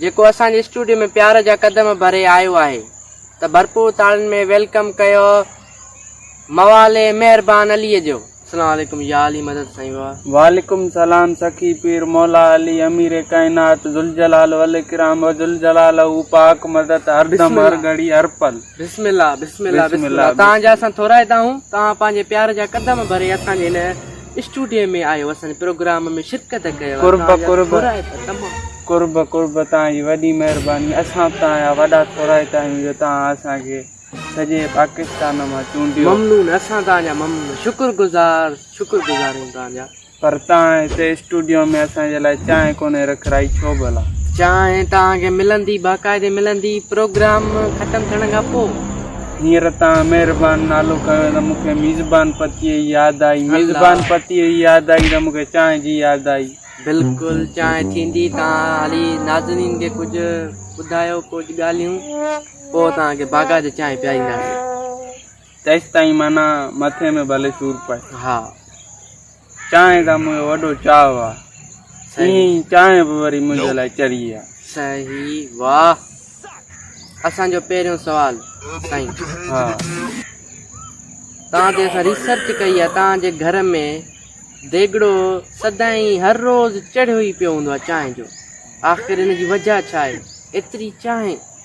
جيڪو اسان جي اسٽوڊيو ۾ پيار جا قدم ڀري آيو آهي ته ڀرپور تاڙين ۾ ويلڪم ڪيو موالي مهربان علي جو. اسلام عليڪم يا علي مدد سائين واھ. وعليڪم سلام سخي پير مولا علي امير ڪائنات ذوالجلال والاڪرام وذوالجلال هو پاڪ مدد هر دم هر گهڙي هر پل. بسم الله بسم الله بسم الله تهان جا اسان ٿورائتا آهون تهان پنهنجي پيار جا قدم ڀري اسان جي هن اسٽوڊيو ۾ آيو هوس ۽ پروگرام ۾ شرڪت ڪيو. قرب قرب قرب قرب توهان جي وڏي مهرباني اسان به توهان جا وڏا ٿورائتا آهيون جو توهان اسان کي سڄي پاڪستان مان چونڊيو. ممنون اسان توهان جا ممنون شڪر گذار شڪر گذار آهيون توهان جا. پر توهان هتي اسٽوڊيو ۾ اسان جي لاء چانهه ڪونهي رکرائي ڇو ڀلا؟ چانهه توهان کي ملندي باقاعدي ملندي پروگرام ختم ٿيڻ کان پوء. هينئر توهان مهربان نالو کنيو ته مون کي ميزبان پتيء جي ياد آئي ميزبان پتيء جي ياد آئي ته مون کي چانهه جي ياد آئي. بلڪل چانهه ٿيندي توهان هلي ناظرين کي ڪجهه ٻڌايو ڪجهه ڳالهيون پوء توهان کي باغات جي چانهه پيارينداسين. تيستائين معنيٰ مٿي ۾ ڀلي سور پئي. ها. چانهه کان منهنجو وڏو چاهه آ. ايئن ئي چانهه به وري منهنجي لاء چري آ. صحيح واھ اسان جو پهريون سوال سائين. ها. توهان تي اسان ريسرچ ڪئي آ توهان جي گهر ۾ ديڳڙو سدائين هر روز چڙهيو ئي پيو هوندو آ چانهه جو آخر ان جي وجه ڇا آهي ايتري چانهه.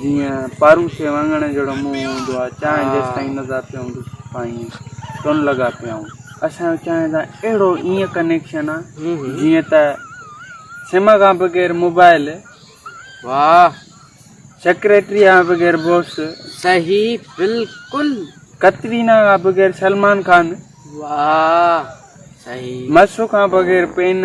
جيئن پاروشي واڱڻ جهڙو منهن هوندو آهي، چانهه جيستائين نه ذاتي هوندي سستائين ٽن لڳا پيا هون. اسان جو چانهه سان اهڙو ايئن ڪنيڪشن آهي جيئن ته سم کان بغير موبائل، واهه، سيڪريٽريء کان بغير بوس، صحيح بلڪل، ڪترينا کان بغير سلمان خان، واهه، صحيح، مسو کان بغير پين،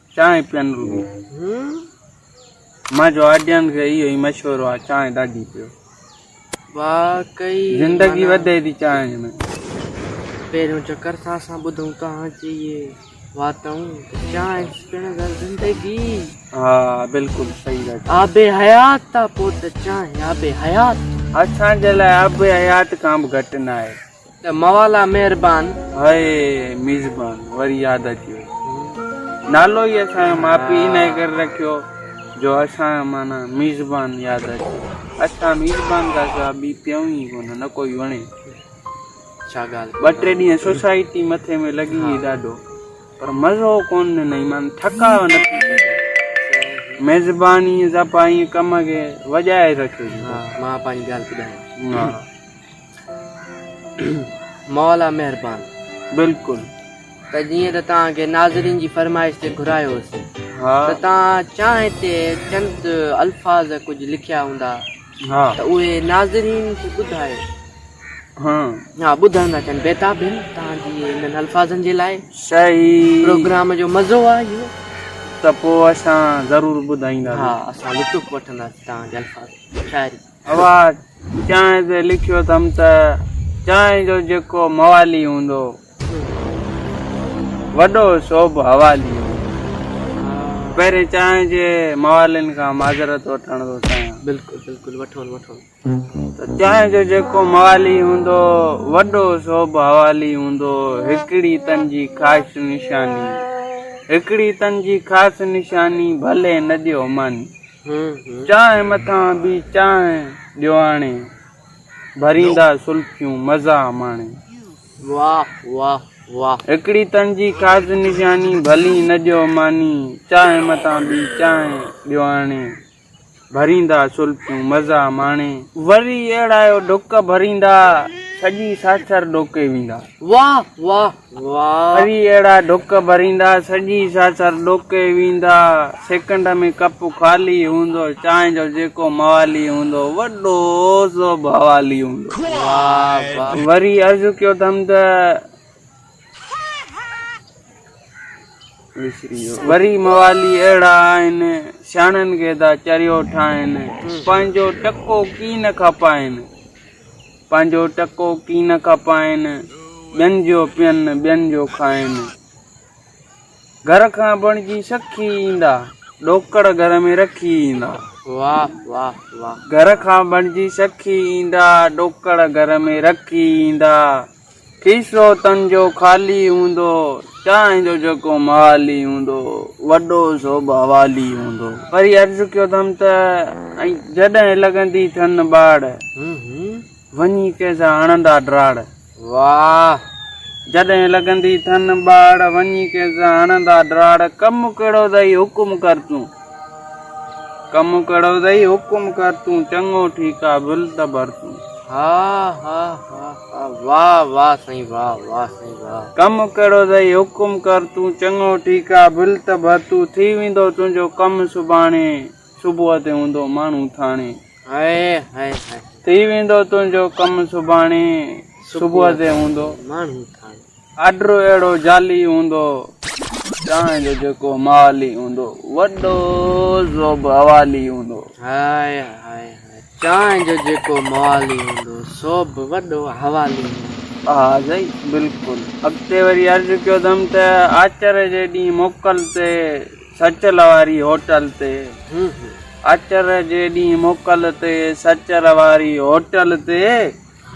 چانهه پيئن روبي. منهنجو آڊينس کي اهو ئي مشورو آهي چانهه ڏاڍي پيو. واقعي. زندگي وڌي ٿي چانهه ۾. پهريون چڪر سان اسان ٻڌون توهان جي اهي واتون ته چانهه پيئڻ سان زندگي. ها بلڪل صحيح ڳالهه چئي. آب حيات آ پوء ته چانهه آب حيات. اسان جي لاء آب حيات کان به گهٽ ناهي. ته موالا مهربان. هاء ميزبان وري ياد اچي وئي نالو ئي اسان جو ماء پيء انهي ڪري رکيو جو اسان جو معنيٰ ميزبان ياد اچي اسان ميزبان کان سواء ٻي پيئون ئي ڪونه نه ڪوئي وڻي ڇا ڳالهه ٻه ٽي ڏينهن سوسائٽي مٿي ۾ لڳي هئي ڏاڍو پر مزو ڪونه ڏنائين معنيٰ ٿڪاء نه ٿي سگهي ميزبان ائين سڀ ائين ڪم کي وڄائي رکيو ها مان پنهنجي ڳالهه ٻڌايان ها مولا مهربان. بلڪل ته جيئن ته توهان کي ناظرين جي فرمائش تي گهرايو هوس ته توهان چانهه تي چند الفاظ ڪجهه لکيا هوندا ته اهي ناظرين کي ٻڌايو ها ٻڌڻ ٿا چاهن بيتاب هن توهان جي انهن الفاظن جي لاء صحيح پروگرام جو مزو آهي اهو ته پوء اسان ضرور ٻڌائيندا ها اسان لطف وٺنداسين توهان جي الفاظن جو شاعري اھا چانھه تي لکيو اٿم ته چانھه جو جيڪو موالي ھوندو وڏو سو به حوالي ھوندو. پهرين چانھه جي موالين کان معذرت وٺڻ ٿو چاھيان. بلڪل بلڪل وٺو وٺو. ته چانھه جو جيڪو موالي ھوندو وڏو سو به حوالي ھوندو ھڪڙي تن جي خاص نشاني ھڪڙي تن جي خاص نشاني ڀلي نه ڏيو ماني. چانهه مٿان به چانهه ڏيو آڻي. ڀريندا سلفيون مزا ماڻي. واھ واھ واھ. هڪڙي تن جي خاص نشاني. ڀلي نه ڏيو ماني. چانهه مٿان به چانهه ڏيو آڻي. ڀريندا سلفيون مزا ماڻي. وري اهڙايو ڍڪ ڀريندا. سڄي ساڇر ڏوڪي ويندا. واھ واھ وري اهڙا ڊڪ ڀريندا، سڄي ساسر ڏوڪي ويندا. سيڪنڊ ۾ ڪپ خالي هوندو، چانهه جو جيڪو موالي هوندو، وڏو سو به حوالي هوندو. وري عرض ڪيو اٿم ته وري موالي اهڙا آهن، سياڻن کي ٿا چريو ٺاهين، پنهنجو ٽڪو ڪي نه کپائين. پنهنجو ٽڪو ڪي نه کپائين، ٻين جو پين، ٻين جو کائين. گهر کان بڻجي سکي ايندا، ڏوڪڙ گهر ۾ رکي ايندا. واھ واھ واھ. گهر کان بڻجي سکي ايندا، ڏوڪڙ گهر ۾ رکي ايندا. کيسو تن جو خالي هوندو، چانهه جو جيڪو محالي هوندو، وڏو سو به حوالي هوندو. وري عرض ڪيو اٿم ته، ۽ جڏهن لڳندي ٿن ٻاڙ، وڃي ڪنهن سان هڻندا ڊراڙ. واهه! جڏهن لڳندي ٿن ٻاڙ، وڃي ڪنهن سان هڻندا ڊراڙ، ڪم ڪهڙو اٿئي حڪم ڪر تون، ڪم ڪهڙو اٿئي حڪم ڪر تون، چڱو ٺيڪ آ ڀل ته ڀر تون. هاء هاء هاء. واه واه سائين واه واه سائين واه. ڪم ڪهڙو ٿئي حڪم ڪر تون چڱو ٺيڪ آ ڀل ته ڀرتو ٿي ويندو تنهنجو ڪم سڀاڻي صبح تي هوندو ماڻهو ٿاڻي هائي هائي هائي. ٿي ويندو تنهنجو ڪم سڀاڻي صبح تي هوندو ماڻهو ٿاڻي. آرڊر اهڙو جعلي هوندو، ڄائين جو جيڪو مالي هوندو، وڏو زوب حوالي هوندو. هاء هاء هاء، چانهه جو جيڪو موالي هوندو، سو به وڏو حوالي هوندو. ها سائين بلڪل. اڳتي وري عرض ڪيو اٿم ته آچر جي ڏينهن موڪل تي سچل واري هوٽل تي آچر جي ڏينهن موڪل تي سچل واري هوٽل تي.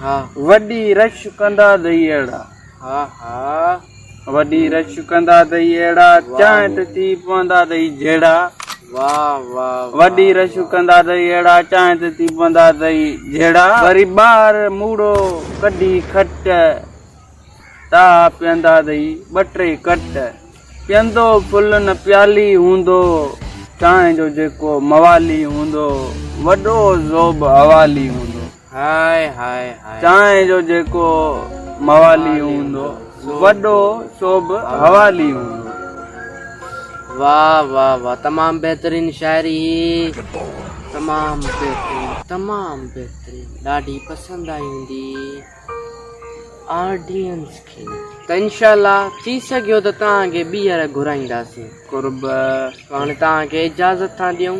ها وڏي رش ڪندا دئي اهڙا. ها ها وڏي رش ڪندا دئي اهڙا. چانهه ته ٿي پوندا دئي جهڙا. واهه واهه وڏي رش ڪندا دئي اهڙا. چانهه ته ٿي پوندا دئي جهڙا. وري ٻاهر موڙو ڪڍي کٽ. تاها پيئندا دئي ٻه ٽي ڪٽ. پيئندو ڦلن پيالي هوندو. چانهه جو جيڪو موالي هوندو. وڏو زوب حوالي هوندو. چانهه جو جيڪو موالي هوندو، وڏو سو به حوالي هوندو. واه واه واه تمام بهترين شاعري هي تمام بهترين تمام بهترين ڏاڍي پسند آئي هوندي آڊينس کي ته انشاء الله ٿي سگهيو ته توهان کي ٻيهر گهرائينداسين قرب هاڻي توهان کي اجازت ٿا ڏيون.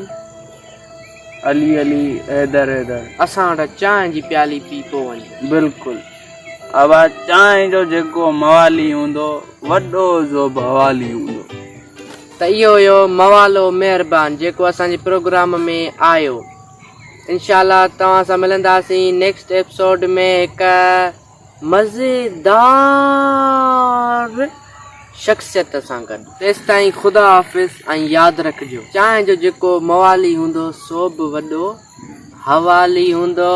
علي علي حيدر حيدر. اسان وٽ چانهه جي پيالي پي پو وڃ. بلڪل ابا چانهه جو جيڪو موالي هوندو وڏو زو به حوالي هوندو. ته اهو هيو موالو مهربان جيڪو اسان جي پروگرام ۾ آيو انشاء الله توهان سان ملنداسين نيڪسٽ ايپسوڊ ۾ هڪ. مزيدار شخصيت سان گڏ. تيستائين خدا حافظ ۽ ياد رکجو چانهه جو جيڪو موالي هوندو سو به وڏو حوالي هوندو.